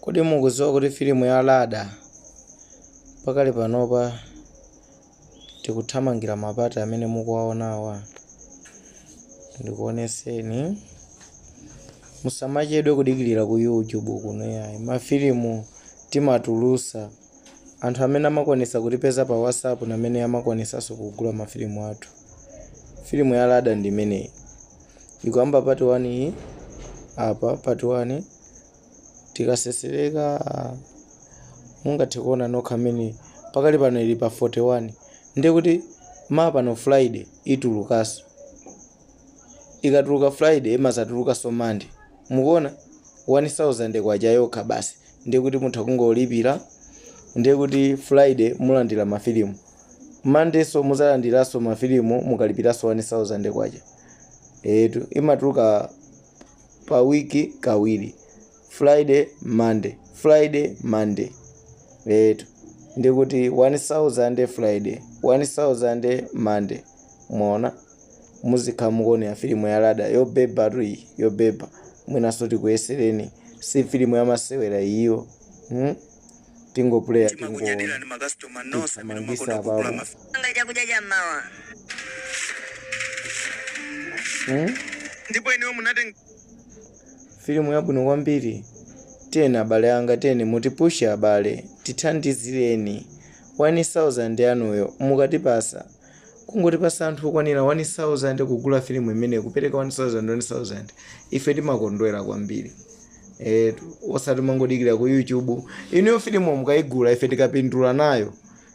Kodi mukudziwa kuti filimu ya Lada pakali panopa tikuthamangira mapati amene mukuwaonawa? Ndikuoneseni. Musamachedwe kudikirira ku YouTube kuno yayi. Mafilimu timatulusa Anthu amene amakwanitsa kutipeza pa WhatsApp namene amakwanitsanso kugula mafilimu athu. Filimu ya Lada ndi imeneyi. Ikuyamba part 1 iyi, apa part 1 tikasesereka mungathe kuona nokha mmene pakali pano ili pa 41 ndiye kuti mapano friday itulukanso ikatuluka friday imazatulukanso monday mukuona 1000 kwacha yokha basi ndiye kuti mutha kungolipira ndiye kuti friday mulandira mafilimu monday so muzalandiranso mafilimu mukalipiranso 1000 kwacha etu imatuluka pa wiki kawiri friday monday friday monday etu ndiye kuti 1000 friday 1000 monday mwaona muzikhala mukuonera filimu ya Lada yobebatu iyi yobeba mwinanso tikuyesereni si filimu ya masewera iyo tingopuleya timangitsa apa ndipo inuyo munatenga filimu yabwino kwambiri tiyeni abale anga tiyeni mutipushe abale tithandizireni 1000 yanuyo mukatipasa Kungotipasa anthu okwanira 1000 kugula filimu imeneyi kupereka 1000 1000 ife timakondwera kwambiri eetu osati mumangodikira ku YouTube inuyo filimuyo mukaigula ife tikapindula nayo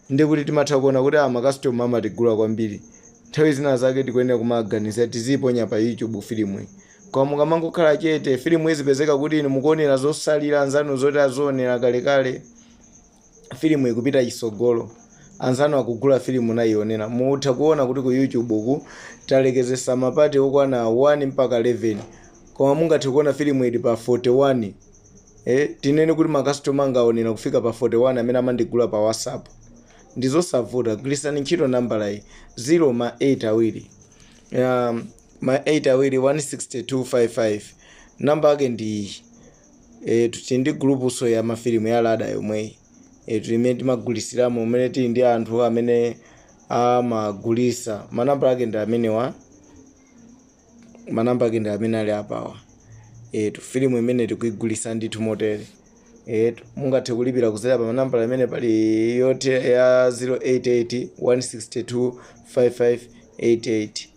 ndiye kuti timatha kuona kuti aa makastoma amatigula kwambiri nthawi zina zake tikuyenera kumaganiza tiziiponya pa YouTube filimuyi koma mukamangokhala chete filimu izipezeka kuti inu mukuonera zotsalira anzanu zoti azionera kalekale filimu ikupita chitsogolo anzanu akugula filimu nayionera mutha kuona kuti ku youtube uku talekezetsa mapati okwana 1 mpaka 11 koma mungathe kuona filimu ili pa 41 eh, tinene kuti makastoma angaonera kufika pa 41 amene amandigula pa whatsapp ndizosavuta gwiritsani ntchito nambala iyi 0 ma 8 awiri um, ma 8 awiri 162555 namba yake ndi iyi Eetu tili ndi gulupunso ya mafilimu ya Lada yomweyi. Eetu imene timagulisiramo umene tili ndi anthu amene amagulisa. Manambala ake ndi amenewa. Manambala ake ndi amene ali apawa. Eetu filimu imeneyi tikuigulisa ndithu motere. Eetu mungathe kulipira kudzera pa manambala amene pali yoti ya 088 162 5588.